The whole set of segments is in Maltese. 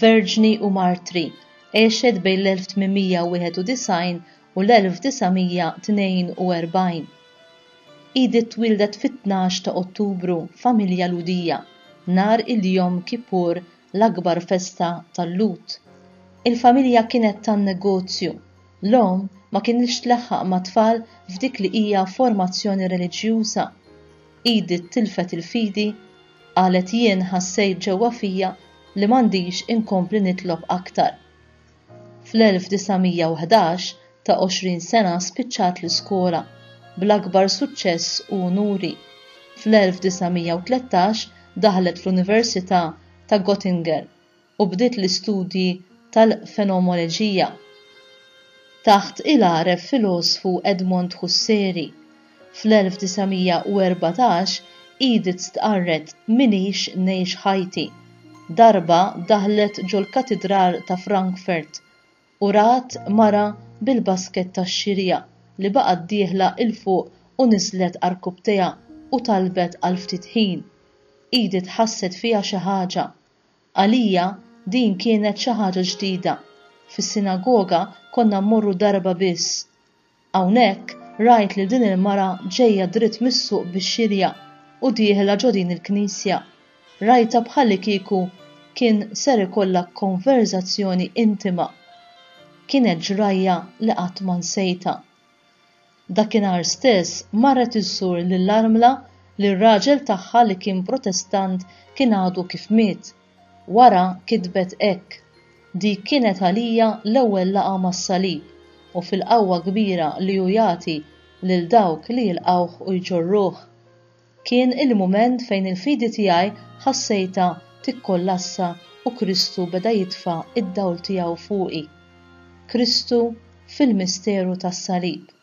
Verġni u Martri, għexet bejn l-1891 u l-1942. Edith twieldet fit-tnax ta' Ottubru f'familja Lhudija, nhar il-Yom Kippur l-akbar festa tal-Lhud. Il-familja kienet tan-negozju, l-omm ma kinitx tlaħħaq mat-tfal f'dik li hija formazzjoni reliġjuża. Edith tilfet il-fidi, qalet jien ħassejt ġewwa fija li m'għandix inkompli nitlob aktar. Fl-1911, ta' 20 sena spiċċat l-iskola, bl-akbar suċċess u unuri. Fl-1913 daħlet fl-Università ta' Göttingen u bdiet l-istudji tal-fenomoleġija taħt il-għaref filosfu Edmond Husseri. Fl-1914 Edith stqarret M'iniex ngħix ħajti. Darba daħlet ġol-Katidral ta' Frankfurt u rat mara bil-basket tax-xirja li baqgħet dieħla 'l fuq u niżlet għarkupptejha u talbet għal ftit ħin. Edith ħasset fiha xi ħaġa. Għalija din kienet xi ħaġa ġdida. Fis-sinagoga konna mmorru darba biss. Hawnhekk rajt lil din il-mara ġejja dritt mis-suq bix-xirja u dieħla ġo din il-knisja. Rajtha bħalikieku kien ser ikollha konverżazzjoni intima. Kienet ġrajja li qatt ma nsejtha. Dakinhar stess marret iżżur lill-armla li r-raġel tagħha li kien Protestant kien għadu kif miet. Wara kitbet hekk, Dik kienet għalija l-ewwel laqgħa mas-salib u fil-qawwa kbira li hu jagħti lil dawk li jilqgħuh u jġorruh. Kien il-mument fejn il-fidi tiegħi ħassejtha tikkollassa u Kristu beda jitfa' d-dawl tiegħu fuqi. Kristu fil-misteru tas-salib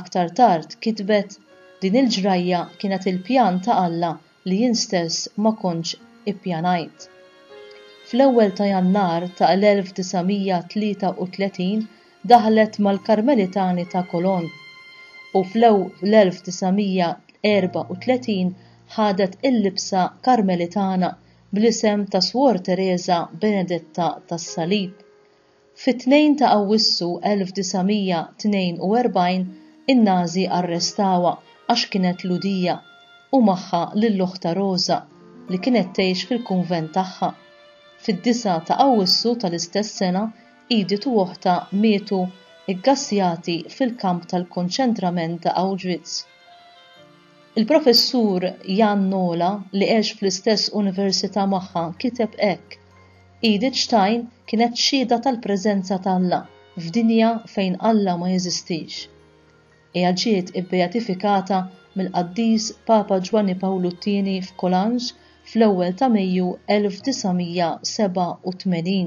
Aktar tard kitbet, Din il-ġrajja kienet il-pjan ta' Alla li jien stess ma kontx ippjanajt. Fl-ewwel ta' Jannar ta' l-1933 daħlet mal-Karmelitani ta' Cologne u fl-1934 ħadet il-libsa Karmelitana bl-isem ta' Suor Tereża Benedetta tas-Salib. Fit-2 ta' Awwissu 1942 in-Nażi arrestawha għax kienet Lhudija u magħha lil oħtha Roża li kienet tgħix fil-kunvent tagħha. Fid-9 ta' Awwissu tal-istess sena Edith u oħtha mietu ggassjati fil-kamp tal-konċentrament ta' Auschwitz. Il-Professur Jan Nola li għex fl-istess università magħha kiteb hekk, Edith Stein kienet xhieda tal-preżenza ta' Alla f'dinja fejn Alla ma jeżistix. Hija ġiet ibbeatifikata mill-Qaddis Papa Ġwanni Pawlu t-Tieni f'Colange fl-ewwel ta' Mejju 1987.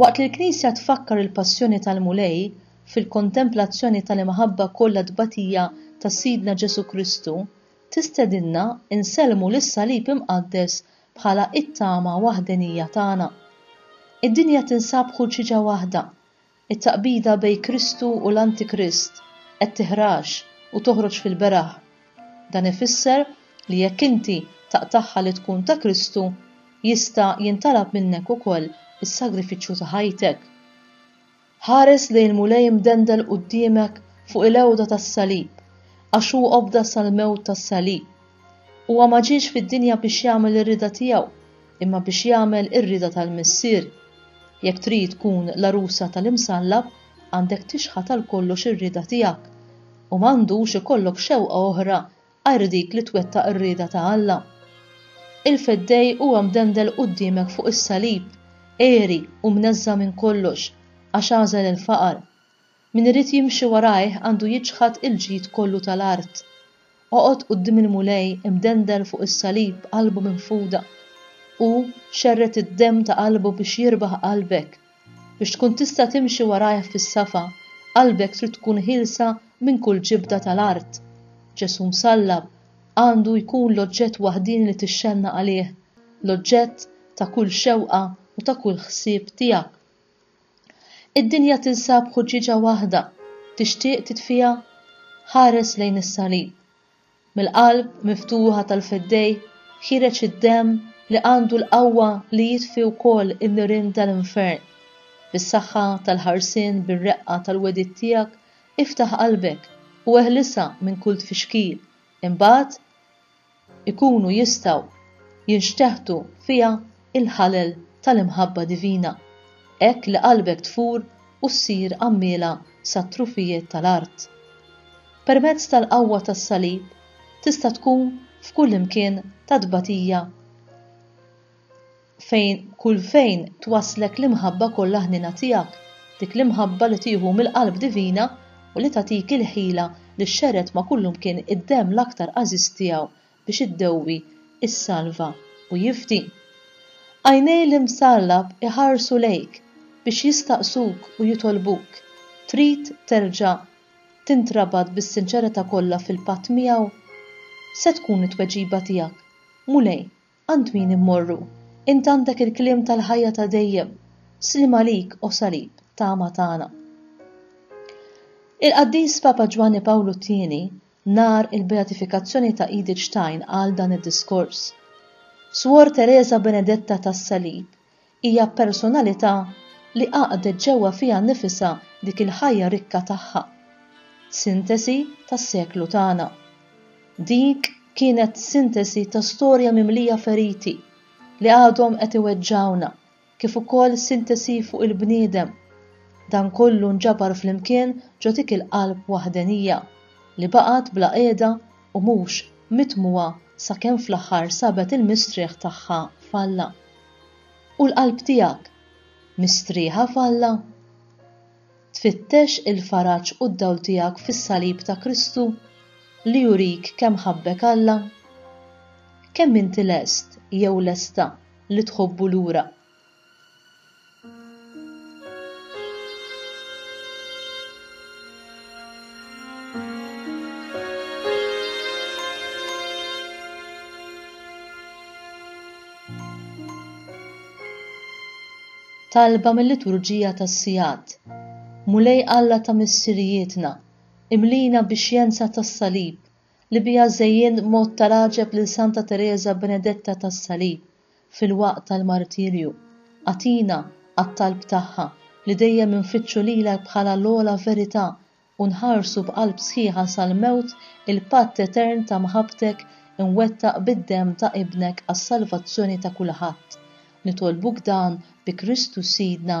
Waqt li l-Knisja tfakkar il-Passjoni tal-Mulej fil-kontemplazzjoni tal-imħabba kollha tbatija ta' Sidna Ġesù Kristu, tistedinna nsellmu lis-Salib Imqaddes bħala t-tama waħdenija tagħna. Id-dinja tinsab ħurċiġa waħda, It-taqbida bejn Kristu u l-Antikrist qed tiħrax u toħroġ fil-beraħ. Dan ifisser li jekk inti taqtagħha li tkun ta' Kristu, jista' jintalab minnek ukoll is-sagrifiċċju ta' ħajtek. Ħares lejn il-Mulej imdendel quddiemek fuq il-għewda tas-salib, għax hu obda sal-mewt tas-salib. Huwa ma ġiex fid-dinja biex jagħmel ir-rieda tiegħu, imma biex jagħmel ir-rieda tal-Missier. Jekk trid tkun l-għarusa tal-Imsallab, għandek tixħat għal kollox ir-rieda tiegħek, u ma għandux ikollok xewqa oħra għajr dik li twettaq ir-rieda ta' Alla. Il-Feddej huwa mdendel quddiemek fuq is-salib, għeri u mneżża' minn kollox, għax għażel il-faqar. Min irid jimxi warajh għandu jiċħad il-ġid kollu tal-art. Oqgħod quddiem il-Mulej imdendel fuq is-salib qalbu minfuda. Hu xerred id-demm ta' qalbu biex jirbaħ qalbek. Biex tkun tista' timxi warajh fis-safa, qalbek trid tkun ħielsa minn kull ġibda tal-art. Ġesù msallab għandu jkun l-oġġett waħdieni li tixxennaq għalih, l-oġġett ta' kull xewqa u ta' kull ħsieb tiegħek. Id-dinja tinsab ħuġġieġa waħda, tixtieq titfiha? Ħares lejn is-Salib. Mill-qalb miftuħa tal-Fiddej ħiereġ id-demm li għandu l-qawwa li jitfi wkoll in-nirien tal-infern. Bis-saħħa tal-ħarsien bir-reqqa tal-wegħdiet tiegħek iftaħ qalbek u eħlisha minn kull tfixkil, imbagħad ikunu jistgħu jinxteħtu fiha l-ħalel tal-imħabba divina, hekk li qalbek tfur u ssir għammiela sat-trufijiet tal-art. Permezz tal-qawwa tas-Salib tista' tkun f'kullimkien ta' tbatija, fejn kull fejn twasslek l-imħabba kollha ħniena tiegħek, dik l-imħabba li tieħu mill-qalb divina u li tagħtik il-ħila li xxerred ma' kullimkien id-demm l-aktar għażiż tiegħu biex iddewwi, issalva u jifdi. Għajnej l-Imsallab iħarsu lejk biex jistaqsuk u jitolbuk, trid terġa' tintrabat bis-sinċerità kollha fil-patt miegħu? Se tkun it-tweġiba tiegħek, Mulej, Għand min immorru? Int għandek il-kliem tal-ħajja ta' dejjem. Sliem għalik, O Salib, tama tagħna. Il-Qaddis Papa Ġwanni Pawlu t-Tieni, nhar il-beatifikazzjoni ta' Edith Stein qal dan id-diskors. Swor Tereża Benedetta tas-Salib Hija personalità li għaqdet ġewwa fiha nnifisha dik il-ħajja rikka tagħha, sintesi tas-seklu tagħna. Dik kienet sintesi ta' storja mimlija feriti li għadhom qed iweġġgħuna kif ukoll sintesi fuq il-bniedem. Dan kollu nġabar flimkien ġo dik il-qalb waħdenija li baqgħet bla qiegħda u mhux mitmugħa sakemm fl-aħħar sabet il-mistrieħ tagħha f'Alla. U l-qalb tiegħek mistrieħa f'Alla? Tfittex il-faraġ u d-dawl tiegħek fis-salib ta' Kristu li jurik kemm ħabbek Alla? Kemm inti lest jew lesta li tħobbu lura? talba mill-liturġija tas-sigħat. Mulej Alla ta' missirijietna, imlina bix-xjenza tas-salib li biha żejjint mod ta' raġeb lil Santa Tereża Benedetta tas-Salib fil-waqt tal-martirju, agħtina għat-talb tagħha li dejjem infittxu lilek bħala l-ogħla verità u nħarsu b'qalb sħiħa sal-mewt il-patt etern ta' mħabbtek imwettaq bid-demm ta' Ibnek għas-salvazzjoni ta' kulħadd. Nitolbuk dan bi Kristu Sidna.